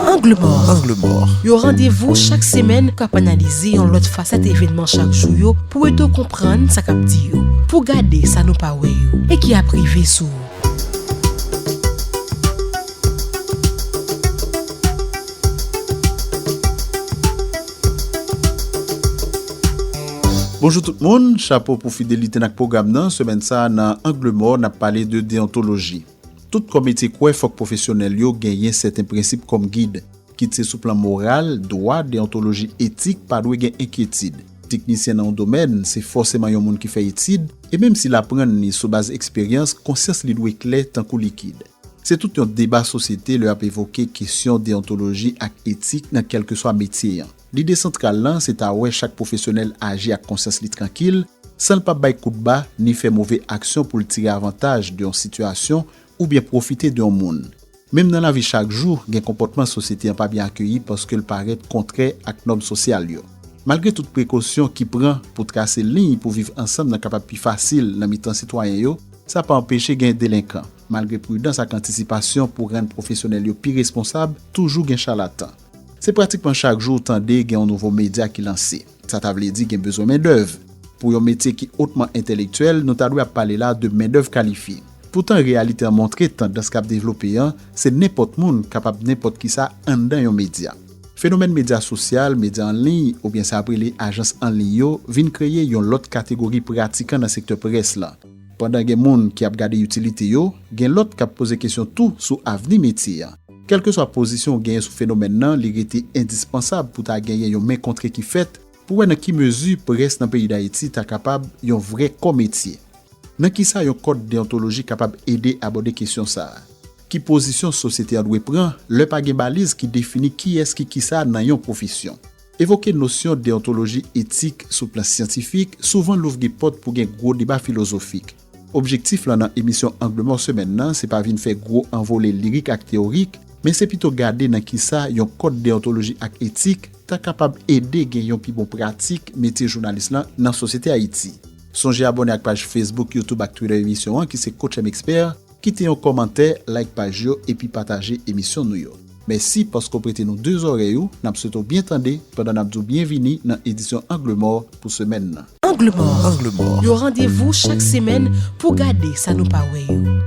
Angle mò, yon randevou chak semèn k ap analize yon lòt fasèt evènman chak jou yo pou ede w konprann sa k ap di yo, pou w gade sa nou pa wè yo e ki ap rive sou ou. Bonjou tout moun, chapo pou fidelite n ak pwogram nan, semèn sa a nan Angle mò n ap pale de deyontoloji. Tout kò metye kwè fòk pwofesyonèl yo genyen sèten prensip kòm gid. Kit se sou plan moral, dwa, deyontoloji, etik, pa dwe gen enkyetid. Teknisyen nan yon domèn, se fòseman yon moun ki fè etid, e menm si l aprann li sou baz eksperyans, konsyans li dwe klè tankou likid. Se tout yon deba sosyete lè y ap evoke kesyon deyontoloji ak etik nan kèlkeswa metye an. Lide santral lan se ta wè chak pwofesyonèl aji ak konsyans li trankil, san l pa bay kout ba ni fè move aksyon pou l tire avantaj de yon sitiyasyon oubyen pwofite de yon moun. Menm nan lavi chak jou, gen konpòtman sosyete an pa byen akeyi paske l parèt kontrè ak nòm sosyal yo. Malgre tout prekosyon ki pran pou trase liy pou viv ansanm nan kapab pi fasil nan mitan sitwayen yo, sa pa anpeche gen delenkan. Malgre pridans ak antisipasyon pou rann pwofesyonèl yo pi responsab, toujou gen chalatan. Se pratikman chak jou ou tande gen yon nouvo medya ki lanse. Sa ta vle di gen bezwen mendèv. Pou yon metye ki otman entelektyèl, nou ta dwe ap pale la de mendèv kalifye. Poutan reyalite an montre tandans k ap devlope an, se nenpòt moun kapab nenpòt kisa anndan yon medya. Fenomèn medya sosyal, medya an liy, oubyen sa ap rele ajans an liy yo, vin kreye yon lòt kategori pratikan nan sektè près lan. Pandan gen moun ki ap gade itilite yo, gen lòt k ap poze kesyon tou sou avni metye an. Kèlkeswa pozisyon ou genyen sou fenomèn nan, li rete endispansab pou ta genyen yon men kontre ki fèt pou wè nan ki mezi près nan peyi Dayiti ta kapab yon vrè kò metye. Nan kisa yon kòd deyontoloji kapab ede abòde kesyon sa a? Ki pozisyon sosyete an dwe pran lè pa gen baliz ki defini kiyès ki kisa nan yon pwofesyon? Evoke nosyon deyontoloji etik sou plan syantifik souvan louvri pòt pou gen gwo deba filozofik. Objektif lan nan emisyon Angle Mò semèn nan se pa vin fè gwo anvole lirik ak teyorik, men se pito gade nan kisa yon kòd deyontoloji ak etik ta kapab ede gen yon pi bon pratik metye jounalis lan nan sosyete Ayiti. Sonje abòne ak paj Facebook, YouTube ak Twitter emisyon an ki se Coach M Expert, kite yon kòmantè, like paj yo epi pataje emisyon nou yo. Mèsi paske w prete nou de zòrèy ou, n ap swete w byen tande pandan n ap di w byenvini nan edisyon Angle mò pou semèn nan. Angle mò, yon randevou chak semèn pou w gade sa nou pa wè yo.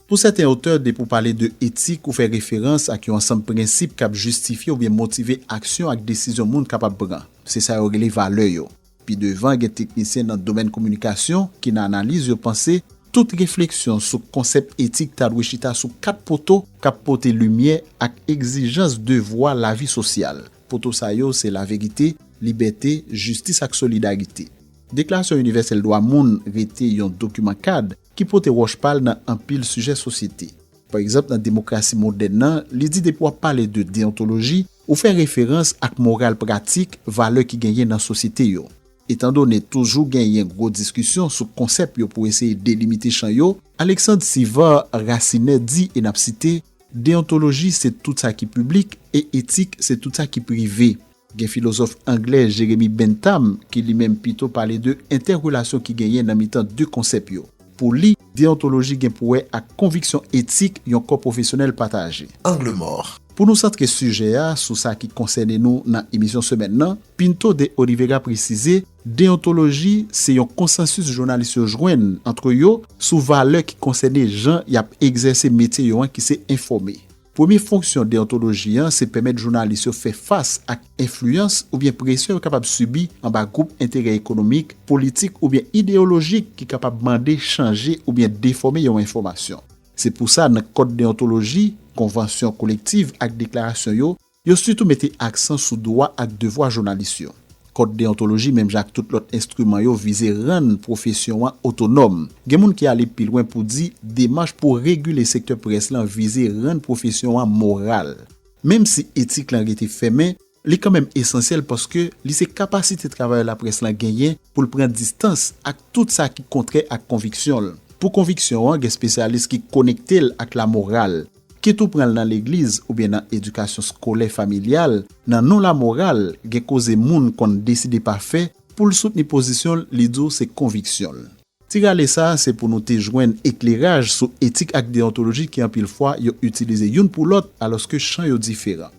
Pou sèten otè, depi w pale de etik, ou fè referans ak yon ansanm prensip k ap jistifye oubyen motive aksyon ak desizyon moun kapab pran. Se sa yo rele valè yo. Pi devan gen teknisyen nan domèn kominikasyon ki nan analiz yo panse tout refleksyon sou konsèp etik ta dwe chita sou kat poto k ap pote limyè ak egzijans devwa lavi sosyal. Poto sa yo se laverite, libète, jistis ak solidarite. Deklarasyon Inivèsèl Dwa Moun rete yon dokiman kad ki pote wòch pa l nan anpil sijè sosyete. Pa egzanp nan demokrasi modèn nan, li di depi w ap pale de deyontoloji, Ou fè referans ak moral pratik valè ki genyen nan sosyete yo. Etandone toujou genyen gwo diskisyon sou konsèp yo pou eseye delimite chan yo, Alexandre Sivard Racinet di, e n ap site, Deyontoloji se tout sa ki piblik e etik se tout sa ki prive. Gen filozòf anglè Jeremy Bentham ki li menm pito pale de entèrelasyon ki genyen nan mitan de konsèp yo. Pou li, Deontoloji gen pou wè ak konviksyon etik yon kò pwofesyonèl pataje. Angle mò. Pou nou santre sijè a sou sa ki konsène nou nan emisyon semèn nan, Pinto de Olivega presize deontoloji se yon konsansis jounalis yo jwenn antre yo sou valè ki konsène jan y ap egzèse metye yo an ki se enfòme. Premye fonksyon deyontoloji an se pèmèt jounalis yo fè fas ak enfliyans oubyen presyon yo kapab sibi anba gwoup enterè ekonomik, politik oubyen ideyolojik ki kapab mande chanje oubyen defòme yon enfòmasyon. Se pou sa nan kòd deyontoloji, konvansyon kolektiv ak deklarasyon yo, Yo sitou mete aksan sou dwa ak devwa jounalis yo. Kòd deyontoloji menm jan ak tout lòt enstriman yo vize rann pwofesyon an otonòm. Gen moun ki ale pi lwen pou di demach pou regile sektè près lan vize rann pwofesyon an moral. Menm si etik lan rete fèmen, li kanmenm esansyèl paske li se kapasite travayè laprès lan genyen pou l pran distans ak tout sa ki kontrè ak konviksyon l. Pou konviksyon an gen spesyalis ki konekte l ak lamoral. Kit ou pran l nan legliz oubyen nan edikasyon skolè familyal, nan non lamoral, gen koze moun konn deside pa fè pou l soutni pozisyon l li di w se konviksyon l. Ti rale sa se pou nou te jwenn ekleraj sou etik ak deyontoloji ki anpil fwa yo itilize youn pou lòt alòske chan yo diferan.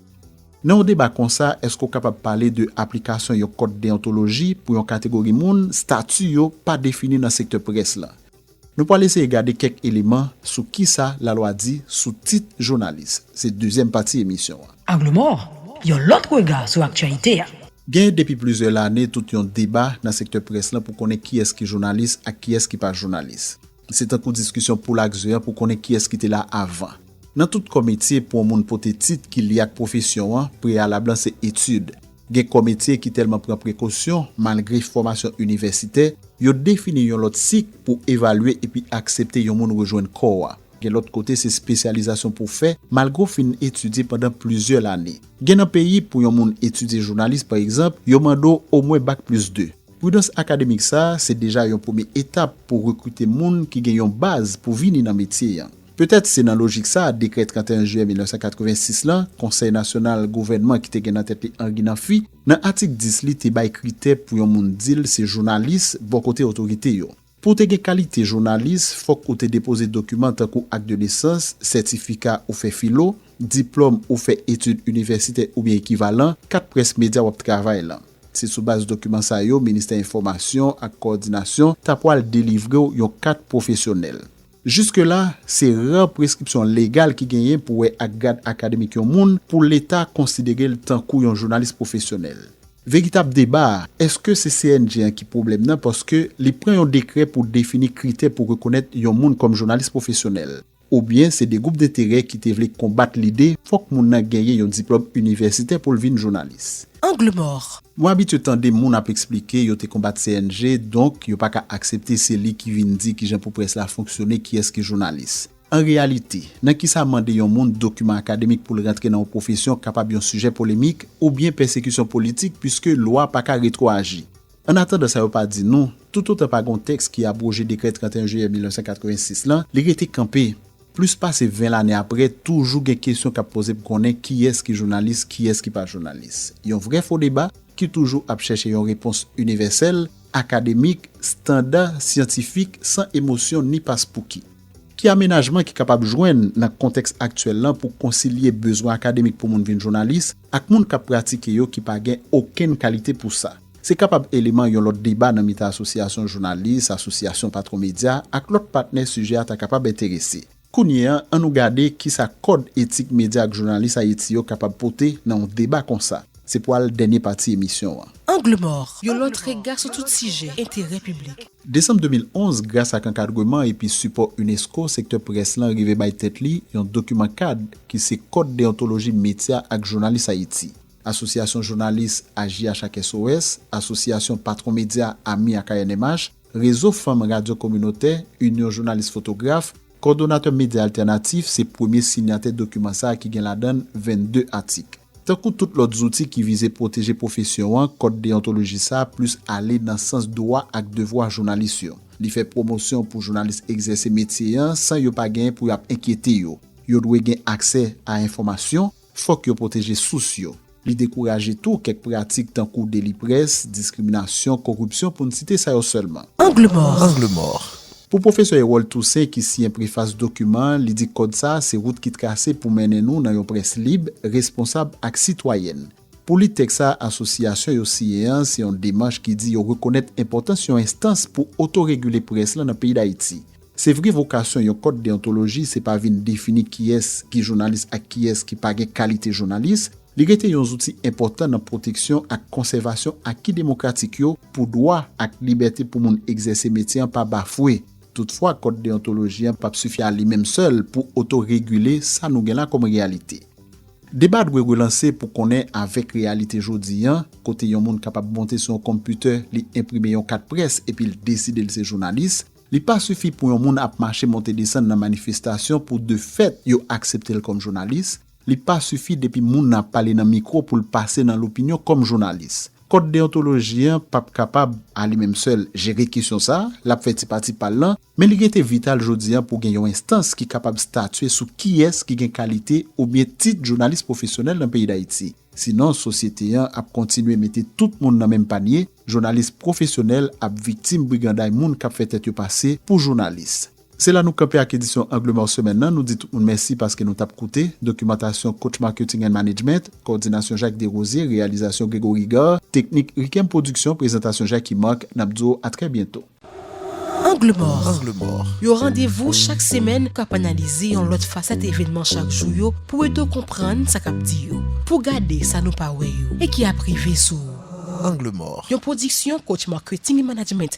Nan yon deba konsa èske w kapab pale de aplikasyon yon kòd deyontoloji pou yon kategori moun stati yo pa defini nan sektè près lan? Nou pwal eseye gade kèk eleman sou kisa lalwa di sou tit jounalis. Se dezyèm pati emisyon an. Angle Mort, yon lòt rega sou aktyalite a. Genyen depi plizyè lane tout yon deba nan sektè près lan pou konnen kiyès ki jounalis ak kiyès ki pa jounalis. Se tankou diskisyon poul ak ze an pou konnen kiyès ki te la avan. Nan tout kò metye pou yon moun pote tit ki lye ak pwofesyon an, preyalab lan se etid. Gen kò metye ki tèlman pran prekosyon, malgre fòmasyon inivèsitè, yo defini yon lòt sik pou evalye epi aksepte yon moun rejwenn kò a. Gen lòt kote se spesyalizasyon pou fè, malgre w fin etidye pandan plizyè lane. Gen nan peyi, pou yon moun etidye jounalis pa egzanp, yo mande w omwen bak plis 2. Pridans akademik sa a se deja yon premye etap pou rekrite moun ki gen yon baz pou vini nan metye an. Petèt se nan lojik sa a dekrè 31 jiyè 1986 lan, Konsèy Nasyonal Gouvènman ki te gen nan tèt li Henri Namphy, nan atik 10 li te bay kritè pou yon moun di l se jounalis bò kote otorite yo. Pou w te gen kalite jounalis, fòk ou te depoze dokiman tankou ak de nesans, sètifika ou fè filo, diplòm ou fè etid inivèsitè oubyen ekivalan, kat près medya w ap travay lan. Se sou baz dokiman sa yo Ministè Enfòmasyon ak Kowòdinasyon ta pwal delivre w yon kat pwofesyonèl. Jiske la, se rare preskripsyon legal ki genyen pou wè ak grad akademik yon moun pou leta konsidere l tankou yon jounalis pwofesyonèl. Veritab deba a, èske se CNJ an ki pwoblèm nan paske li pran yon dekrè pou defini kritè pou rekonèt yon moun kòm jounalis pwofesyonèl? Oubyen se 2 gwoup denterè ki te vle konbat lide fòk moun nan genyen yon diplòm inivèsitè pou l vin jounalis? Angle mort. Mwen abitye tande moun ap eksplike yo te konbat CNG donk yo pa ka aksepte se li ki vin di kijan pou près la fonksyone kiyès ki jounalis. An reyalite, nan kisa mande yon moun dokiman akademik pou l rantre nan yon pwofesyon kapab yon sijè polemik oubyen pèsekisyon politik puiske lwa pa ka retwoaji? Ann atandan sa yo pa di nou, toutotan pa gen yon tèks ki abwoje dekrè 31 jiyè 1986 lan, li rete kanpe. Plis pase 20 lane apre, toujou gen kesyon k ap poze pou konnen kiyès ki jounalis, kiyès ki pa jounalis. Yon vrè fo deba ki toujou ap chèche yon repons inivèsèl, akademik, standa, syantifik, san emosyon ni paspouki. Ki amenajman ki kapab jwenn nan kontèks aktyèl lan pou konsilye bezwen akademik pou moun vin jounalis ak moun k ap pratike yo ki pa gen okenn kalite pou sa. Se kapab eleman yon lòt deba nan mitan asosyasyon jounalis, asosyasyon patwon medya, ak lòt patnè sijè a ta kapab enterese. Kounye a, an nou gade ki sa kòd etik medya ak jounalis Ayiti yo kapab pote nan yon deba kon sa. Se pwal dènye pati emisyon an. Angle mò, yon lòt rega sou tout sijè enterè piblik. Desanm 2011, gras ak ankadreman epi sipò unesco, sektè près lan rive bay tèt li yon dokiman kad ki se Kòd Deontoloji Metya ak Jounalis Ayiti. Asosyasyon Jounalis, AJH ak SOS, Asosyasyon Patwon Medya, ami ak ANMH, Rezo Fanm Radyo Kominotè, Inyon Jounalis Fotograf, Kòdonatè Medya Altènatif se premye sinyatè dokiman sa a ki gen ladan n 22 atik. Tankou tout lòt zouti ki vize pwoteje pwofesyon an, kòd deyontoloji sa a plis ale nan sans dwa ak devwa jounalis yo. Li fè pwomosyon pou jounalis egzèse metye an san yo pa genyen pou y ap enkyete yo. Yo dwe gen aksè a enfòmasyon, fòk yo pwoteje sous yo. Li dekouraje tou kèk pratik tankou deli près, diskriminasyon, koripsyon pou n site sa yo sèlman. Angle mò! Pou pwofesè Erol Toussaint ki siyen prefas dokiman an, li di kòd sa a se wout ki trase pou mennen nou nan yon près lib, responsab ak sitwayèn. Pou li tèks sa a asosyasyon yo siyen an se yon demach ki di yo rekonèt enpòtans yon enstans pou otoregile près lan nan peyi Dayiti. Se vre vokasyon yon kòd deyontoloji se pa vin defini kiyès ki jounalis ak kiyès ki pa gen kalite jounalis, Li rete yon zouti enpòtan nan pwoteksyon ak konsèvasyon aki demokratik yo pou dwa ak libète pou moun egzèse metye an pa bafwe. Toutfwa, kòd deyontoloji an pap sifi a li menm sèl pou otoregile sa nou gen la kòm reyalite. Deba dwe relanse pou konnen avèk reyalite jodi an, kote yon moun kapab monte sou yon konpitè, li enprime yon kat près epi l deside l se jounalis, li pa sifi pou yon moun ap mache monte desann nan manifestasyon pou de fèt yo aksepte l kòm jounalis. Li pa sifi depi moun nan ap pale nan mikwo pou l pase nan lopinyon kòm jounalis. Kòd deyontoloji an pap kapab, a li menm sèl, jere kesyon sa a, l ap fè ti pati pa l lan, men li rete vital jodi a pou gen yon enstans ki kapab statye sou kiyès ki gen kalite oubyen tit jounalis pwofesyonèl nan peyi Dayiti. Sinon, sosyete an ap kontinye mete tout moun nan menm panye, jounalis pwofesyonèl ap viktim briganday moun k ap fè tèt yo pase pou jounalis. Se la nou kanpe ak edisyon Angle Mò semèn nan. Nou di tout moun mèsi paske nou t ap koute. Dokimantasyon Coach Marketing and Management. Kowòdinasyon Jacques Derosier. Reyalizasyon Gregory Gar. Teknik Rikem Production. Prezantasyon Jackie Marc. N ap di w a trè byento. Angle Mò, yon randevou chak semèn k ap analize yon lòt fasèt evènman chak jou yo pou ede w konprann sa k ap di yo, pou w gade sa nou pa wè yo e ki ap rive sou ou. Angle Mò, yon pwodiksyon Coach Marketing and Management.